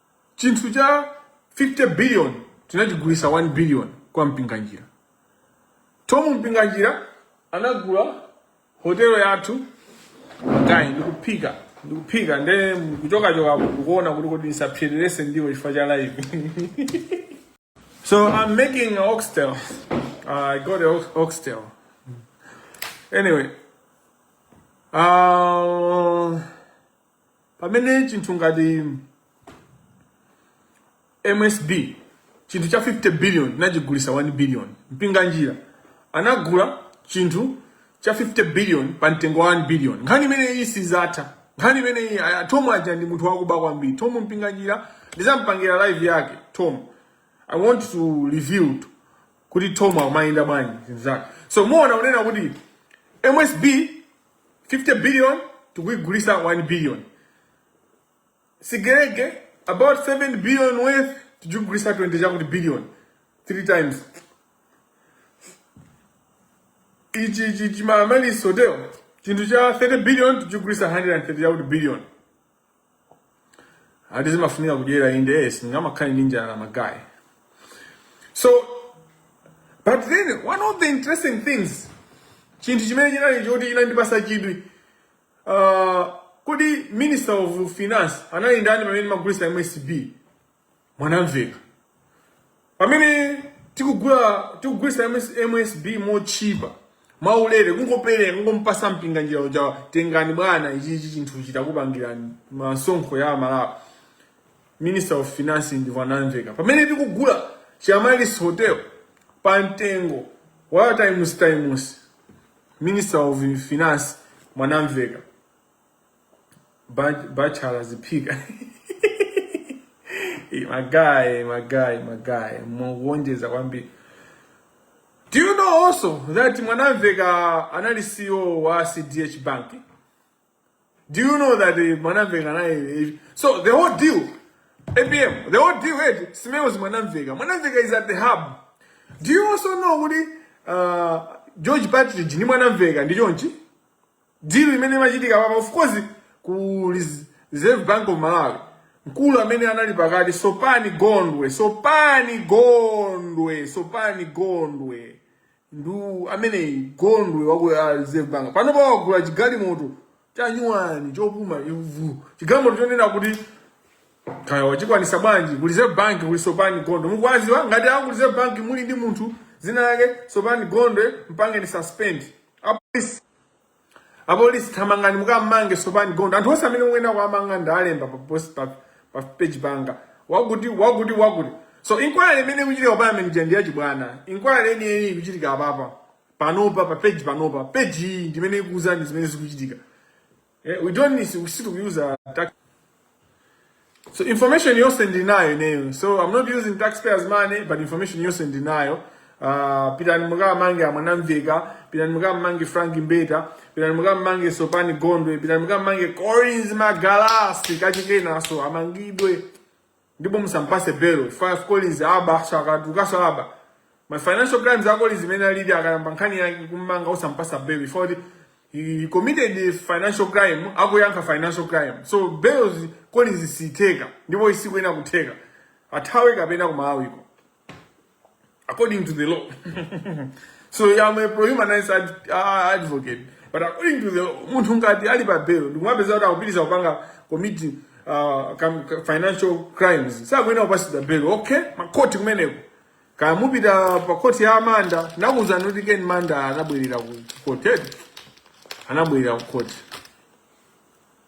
chinthu cha 50 billion tinachigulisa 1 billion kwa mpinganjira Thom Mpinganjira anagula hotelo yathu magayi ndikuphika ndikuphika nde kuchokachoka ndikuona kuti kodi ndisapsererese ndiwo chifukwa cha live So I'm making an oxtail. Uh, I got an oxtail. Anyway, uh, pamene chinthu ngati msb chinthu cha 50 billion tinachigulisa 1 billion mpinganjira anagula chinthu cha 50 billion pa mtengo wa 1 billion nkhani imeneyi sizatha nkhani imeneyi aya, Thom aja ndi munthu wakuba kwambiri Thom Mpinganjira ndizampangira live yake Thom i want to reveal to- kuti Thom amayenda bwanji zinthu zake so muona unena kuti msb 50 billion tikuigulisa 1 billion Sigelege about 7 billion worth tikugulisa 20 chakuti billion 3 times ichi ichi chiAmaryllis hotel chinthu cha 30 billion tikugulisa 130 chakuti billion ati zimafunika kudyera inde eh, singamakhale ndi njala magayi so but then one of the interesting things chinthu chimene chinali choti chinandipasa chidwi Uh, kodi minister of finance anali ndani pamene timagulisa msb Mwanamvekha pamene tikugula tikugulisa MS, msb motchipa mwaulere kungopereka kungompasa Mpinganjira uja tengani bwana ichichi chinthu chitakupangirani masonkho ya amalawi minister of finance ndi Mwanamvekha pamene tikugula chiAmaryllis hotel pa mtengo wa times times Minister of Finance Mwanamvekha Bach- Bachala ziphika Eh, my guy, my guy, my guy. Mwaonjeza kwambiri. Do you know also that Mwanamvekha anali CEO wa CDH Bank? Do you know that the Mwanamveka na eh, so the whole deal APM the whole deal it smells Mwanamveka. Mwanamveka is at the hub. Do you also know kuti uh, George Partridge ni Mwanamveka ndi chonchi? Deal imene imachitika apapa of course ku Reserve Bank of Malawi. Mkulu amene anali pakati Sopani Gondwe, Sopani Gondwe, Sopani Gondwe. ndu ameneyi gondwe waku ah, reserve bank panopa wagula chigalimoto chanyuwani chopuma ivu chigalimoto chonena kuti kaya wachikwanisa bwanji ku reserve bank kuli sopani gondwe mukuwaziwa ngati aku reserve bank muli ndi munthu zina yake sopani gondwe mpangeni suspend apolisi apolisi thamangani mukammange sopani gondwe anthu onse amene mukuyenera kuwamanga ndalemba pa post pa pa page yanga wakuti wakuti wakuti so inquiry imene ikuchitika pa Amaryllis ija ndi yachibwana inquiry yeniyeni ikuchitika apapa panopa pa page panopa page iyi ndimene ikuuzani zimene zikuchitika Eh, we don't need to- we still use a tax So information yonse ndinayo ineyo. So I'm not using taxpayers money but information yonse ndinayo. Uh, pitani mukamange a mwanamveka pitani mukamange frank mbeta pitani mukamange sopani gondwe pitani mukamange collins magalasi kachikenaso amangidwe ndipo musampase belo fire collins aba shakatu kasalaba my financial crimes ako lizimene alili akayambe nkhani yake kummanga osampasa belo ifoti he committed financial crime akuyankha financial crime so belo collins isitheka ndipo isikuyenera kutheka athawe kapena kumawiko according to the law. so I'm a pro-humanist ad, uh, advocate. But according to the law, munthu ngati ali pa bail, ndikumupeza kuti akupitiliza kupanga commit uh, financial crimes. Sakuyenera kupasidwa bail. Okay, makoti kumeneko. Kaya mupita pa koti ya a Manda, nakuuzani kuti Ken Manda anabwerera ku court. Anabwerera ku court.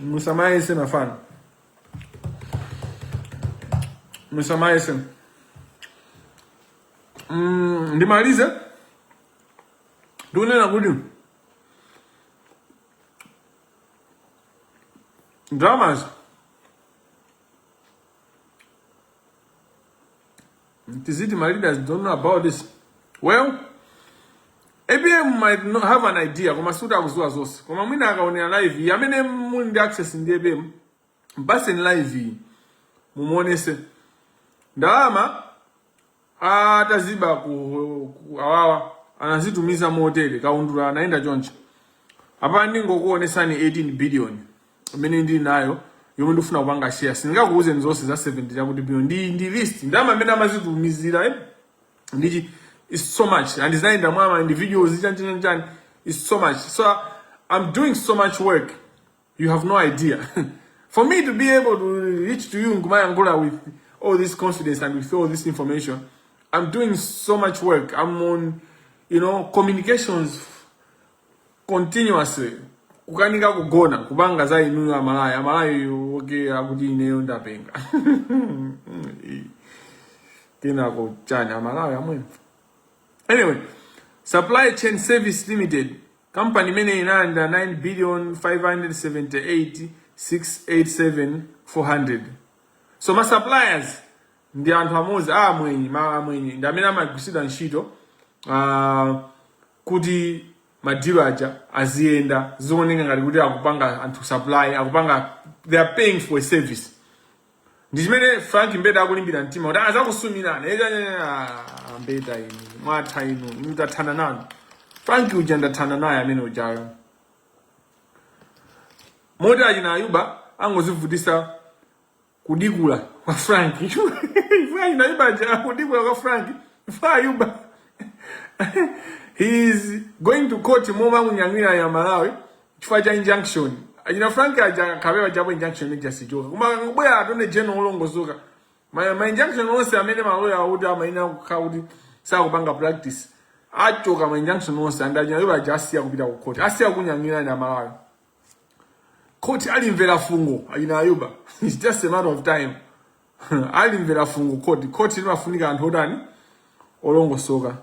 Musamai sin afan. Musamai sin. Mm, ndimalize ndikunena kuti dramas Tiziti, my leaders don't know about this. Well, ABM might not have an idea koma sikuti akuziwa zonse koma mwina akaonera live iyi amene muli ndi access ndi APM mpaseni live iyi mumuonese ndalama ataziba ku, ku awawa anazitumiza mu hotel kaundula anaenda choncho apa ndingokuonesani 18 billion imene ndili nayo yomwe ndikufuna kupanga share sindingakuuzeni zonse za 70 chakuti biliyoni ndi ndi list ya ndalama imene amazitumizira eh? ndichi it's so much and zinayenda mwama and videos chani chani chani it's so much so i'm doing so much work you have no idea for me to be able to reach to you nkumayankhula with all this confidence and with all this information i'm doing so much work i'm on you know communications continuously kukanika kugona kupanga za inuyo amalawi amalawi oke akuti ineyo ndapenga kenako chani amalawi amwenye anyway supply chain service limited company imene inalandira 9 billion 578 687 400 so ma suppliers ndi anthu amodzi a amwenye ma amwenye ndi amene amagwiritsidwa ntchito uh, kuti ma deal aja aziyenda zioneka ngati kuti akupanga anthu supply akupanga they are paying for a service ndi chimene frank mbeta akulimbira mtima kuti azakusumirana mbeta inu mwatha inu ndathana nanu frank uja ndathana naye amene ujayo moti achina ayuba angozivutisa Kudikula kwa Frank. Chifuwa Ayuba aja kudikula kwa Frank. Chifuwa Ayuba. He is going to court momamunyanyira Amalawi. Chifukwa cha injunction. Achina Frank aja kape uja apo injunction ni just joke. Koma kubwera attorney general olongosoka. Ma, ma injunction onse amene maloya awo amayenda ku khoti sakupanga practice. Achotsa ma injunction onse and achina Ayuba aja asiya kupita ku court. Asiya kunyanyira Amalawi. Khoti alimvera fungo achina Ayuba. It's just a matter of time. alimvera fungo khoti. Khoti limafunika anthu otani? Olongosoka.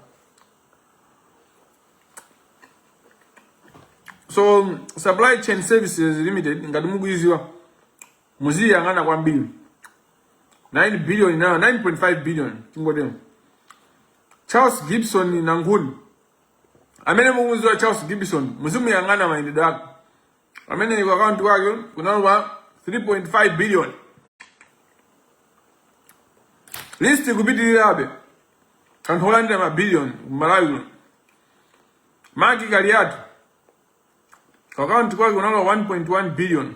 So um, Supply Chain Services Limited ngati mukuidziwa muziiyang'ana kwambiri 9 billion nayo 9.5 billion tingotero Charles Gibson Nankhuni amene mukumudziwa charles gibson muzimuyang'ana mayendedwe ake amene ku akaunti kwake kunalowa 3.5 billion list ikupitirirabe anthu olandira mabiliyoni kumalawi kuno mark kaliati ku akaunti kwake kunalowa 1.1 billion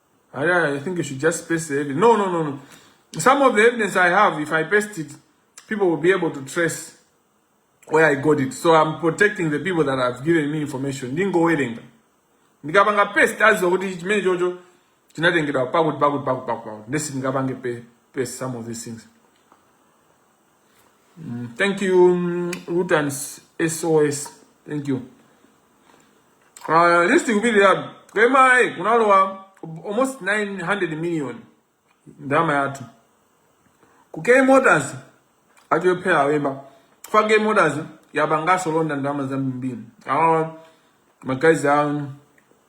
I, I think you should just paste the evidence. No, no, no, no. Some of the evidence I have, if I paste it, people will be able to trace where I got it. So I'm protecting the people that have given me information. Ndingo wedding. Ndikapanga paste azo kuti chimene chocho chinatengedwa pakuti pakuti pakuti pakuti. Ndesi ndingapange paste some of these things. Mm, thank you, um, Root and SOS. Thank you. Uh, list ikupitabe. K Motors kunalowa almost 900 million ndalama yathu ku K Motors achophera awemba fa K Motors yapanganso launder ndalama zambiri awa magazi awo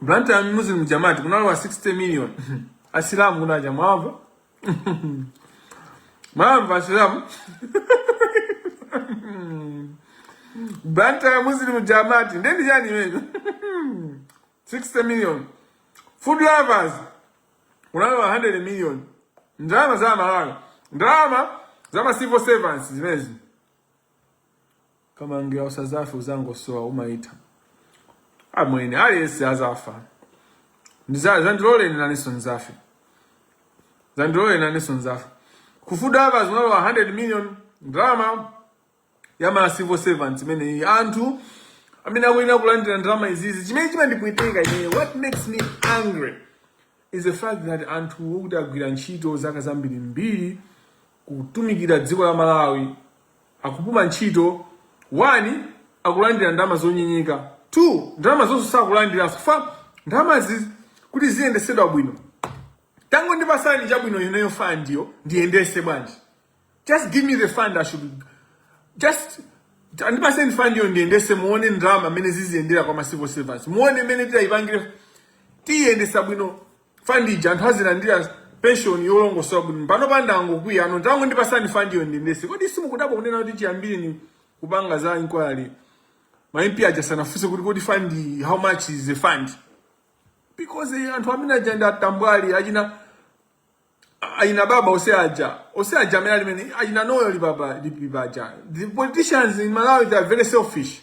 Blantyre Muslim Jamaat kunalowa 60 million asilamu kunaja mwava mwamva asilamu Blantyre Muslim Jamaat ndeni chani imecho 60 million food lovers kunalowa 100 million ndalama za amalawi ndalama za ma civil servants zimezi Kamangira usazafe uzangosowa umaitha Amwene aliyense azafa Ndiza- zandiloleni nanenso nzafe zandiloleni nanenso nzafe ku fund apa zimalowa 100 million ndalama ya ma civil servants imeneyi anthu amene akuyenera kulandira ndalama izizi Chimene chimandipweteka ineyo what makes me angry is the fact that anthu okuti agwira ntchito zaka zambiri mbiri kutumikira dziko la Malawi akupuma ntchito 1 akulandira ndalama zonyenyeka 2 ndalama zonse sakulandiranso fund ndalamazi kuti ziyendesedwa bwino tangondipasani chabwino ineyo fund yo ndiyendese bwanji just give me the fund i should just andipaseni fund yo ndiyendese muone ndalama mmene ziziyendera kwa ma civil servants muone mmene tiyayipangire tiyendesa bwino fund ija anthu azilandira pension yolongosoka bwino pano pandangokwiya pano tangondipasani fund yo ndiyendese kodi simukudabwa kunena kuti chiyambire ndi kupanga za inquiry ma MP aja sanafunse kuti kodi fund how much is the fund because eh, anthu amene aja ndi atambwali achina ayina baba ose aja ose aja amene alimene ayina noyo lipapa lipipa aja the politicians in Malawi they are very selfish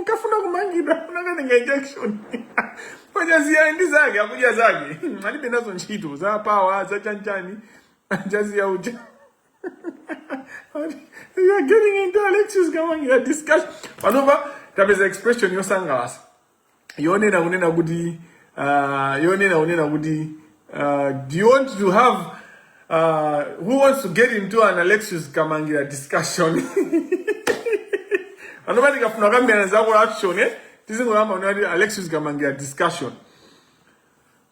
utafuna kumangidwa unakatenga injunction Chaziya ndi zake akudya zake alibe nazo ntchito za power za chanchani a Chaziya uja you are getting into Alexious Kamangira discussion panopa tapeza expression yosangalasa yonena kunena kuti uh, yonena kunena kuti uh, you want to have uh, who wants to get into an Alexious Kamangira discussion panopa tikafuna kukambirana za corruption eh? tizingoyamba kunena kuti Alexious Kamangira discussion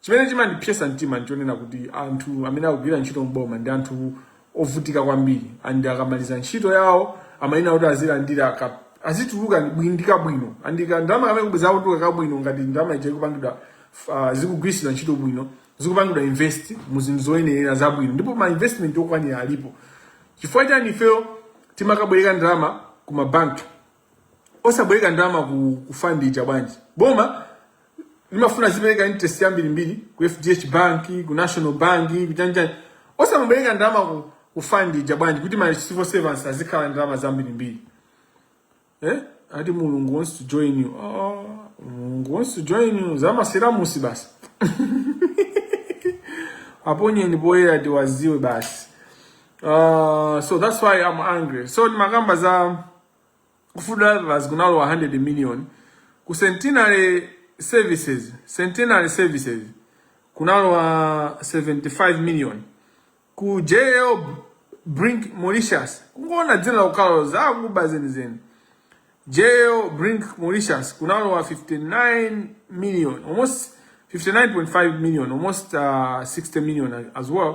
Chimene chimandipsetsa mtima n'chonena kuti anthu amene akugwira ntchito m'boma ndi anthu ovutika kwambiri and akamaliza ntchito yawo amayenera kuti azilandira ka azituluka ndi bwin- ndi kabwino and ka ndalama kamene bwezi akutuluka kabwino ngati ndalama ija ikupangidwa f- ah, zikugwiritsidwa ntchito bwino zikupangidwa invest mu zinthu zoyenerera zabwino ndipo ma investment okwanira alipo chifukwa chani ifeyo timakabwereka ndalama ku mabanki osabwereka ndalama ku, ku fund ija bwanji boma limafuna zipereka interest yambiri mbiri ku FDH bank ku national bank ku chanichani osamabwereka ndalama ku, ku fund ija bwanji kuti ma civil servants azikhala ndi ndalama zambiri mbiri eh ati Mulungu wants to join you oh Mulungu wants to join you za ma syllabus basi aponyeni poyera tiwaziwe basi uh, so that's why i'm angry so ndimakamba za ku food drivers kunalowa 100 million ku centenary services centenary services kunalowa 75 million ku jl brink mauritius kungoona dzina la ukalo zakuba zenizeni jl brink mauritius kunalowa 59 million almost 59.5 million almost uh, 60 million as well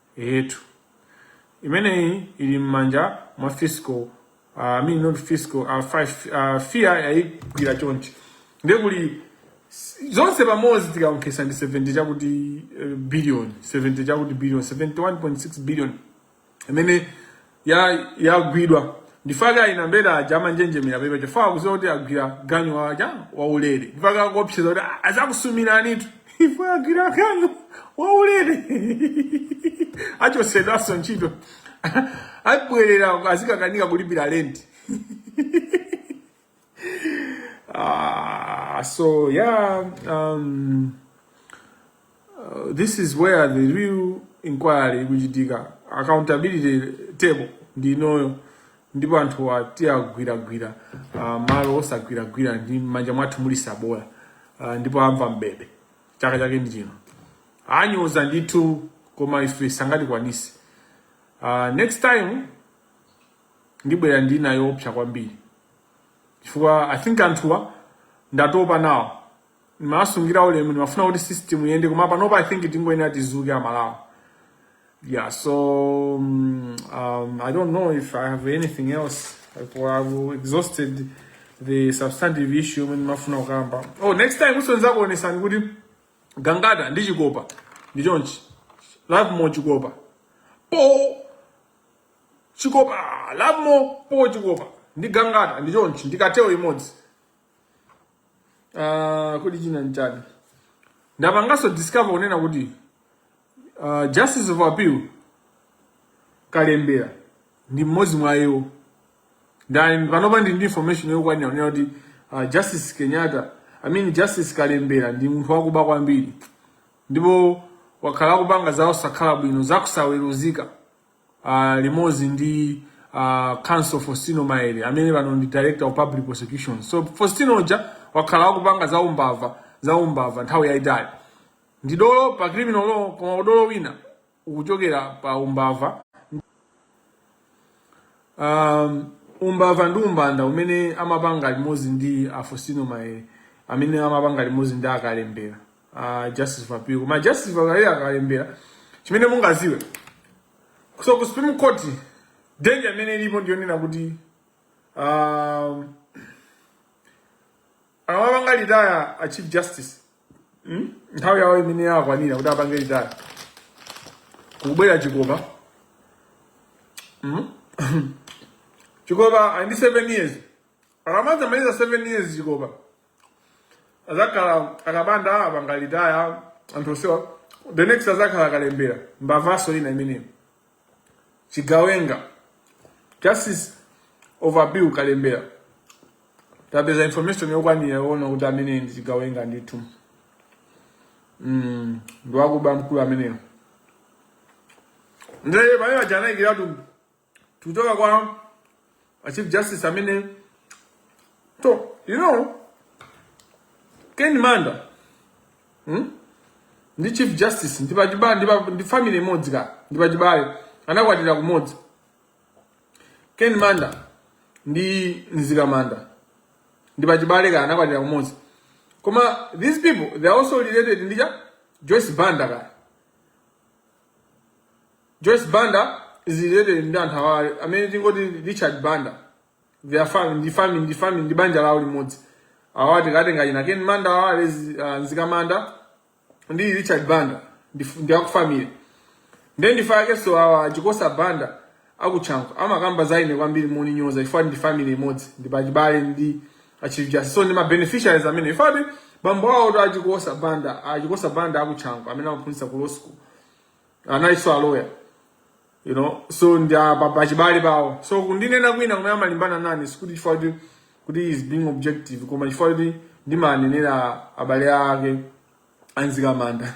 Eetu. Imene ili m'manja mwa fiscal uh, I mean not fiscal uh, uh, FIA yayigwira chonchi ndiye kuli zonse pamodzi tikaonkhesa ndi 70 chakuti uh, billion 70 chakuti billion 71.6 billion imene yagwidwa ndifake ayina mbera aja amanjenjemera pepa chifukwa akuziwa kuti agwira ganyu waja waulere ndifake akuopseza kuti "Ah, azakusumiranitu ife agwira ganyu waulere achosedwaso ntchito abwerera azikakanika kulipira lenti Ah, so yeah, um, uh, this is where the real inquiry ikuchitika accountability table ndi inoyo ndipo anthu atiagwiragwira uh, ah, malo osagwiragwira ndi m'manja mwathu muli sabola uh, ndipo amva mbebe chaka chake ndi chino anyoza ndithu koma ife sangatikwanise uh, next time ndibwera ndi nayo yopsa kwambiri chifukwa i think anthuwa ndatopa nawo ndimawasungira ulemu ndimafuna kuti system iyende koma panopa i think tingoyenera tizuke a Malawi yeah so um, um, i don't know if i have anything else like, well, i've exhausted the substantive issue yomwe ndimafuna kukamba oh next time-so ndizakuonesani kuti gangata ndi chikopa ndi chonchi Lovemore chikopa po chikopa Lovemore po chikopa ndi gangata ndi chonchi ndi cartel imodzi uh, kodi china nchani ndapanganso discover kunena kuti uh, justice of appeal kalembera ndi mmodzi mwa iwo ndiye panopa ndili ndi information yokwanira kunena kuti uh, justice kenyatta i mean justice kalembera ndi munthu wakuba kwambiri ndipo wakhala akupanga zosakhala bwino zakusaweruzika uh, limodzi ndi uh, counsel Faustino Maere amene pano ndi director of public prosecution so Faustino uja wakhala akupanga za umbava nthawi yaitali ndi dolo pa criminal law koma udolo wina ukuchokera pa umbava um, umbava ndi umbanda umene amapanga limodzi ndi a Faustino Maere amene amapanga limodzi ndi akalembera a justice of appeal koma justice of appeal akalembera chimene mungaziwe so ku supreme court danger imene ilipo ndiyonena kuti um, akapanga litaya a chief justice hmm? nthawi yawo imene yakwanira kuti apange litaya kubwera chikopa hmm? chikopa ali ndi 7 years akamadzamaliza 7 years chikopa azakhala akapanda apanga retire anthu osewa the next azakhala akalembera mbavaso ina imeneyo chigawenga justice of appeal kalembera tapeza information yokwanira yoona kuti amene ndi chigawenga ndithu mm, ndiwakuba mkulu ameneyo ndiye pamene paja anayikiratu tikuchoka kwa a chief justice amene so you know ken manda hmm? ndi chief justice ndi pachibale ndi pa- ndi family imodzi ka ndi pachibale anakwatira kumodzi ken manda ndi mzikamanda ndi pachibale ka anakwatira kumodzi koma these people they are also related ndi cha joyce banda ka Joyce Banda is related ndi anthu awa amene tingoti Richard Banda they are family ndi family ndi family ndi banja lawo limodzi awa tikatenga china Ken Manda awa alezi uh, Mzikamanda ndi Richard Banda ndi, ndi akufamily ndiye ndi chifukwa chakenso awa Chikosa Banda akuchanco amakamba za ine kwambiri moninyoza chifukwa ndi family imodzi ndi pachibale ndi achief justice so ndi ma beneficiaries amene chifukwa bambo awo to achikosa banda achikosa banda akuchanco amene amaphunzitsa ku law school analinso aloya you know so ndi a- pa- pachibale pawo so kundinena kwina kumene amalimbana nane sikuti chifukwa kuti kuti is being objective koma chifukwa kuti ndimanenera abale ake amzikamanda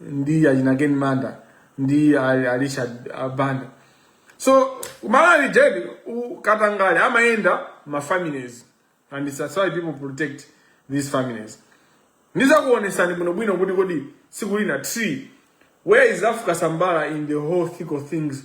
ndi achinaken manda ndi arichard banda so kumalawi ujeni katangale amayenda mafamilies and it's that's why people protect these families ndizakuonesani bwinobwino kuti kodi sikulina tree where is africa sambala in the whole thick of things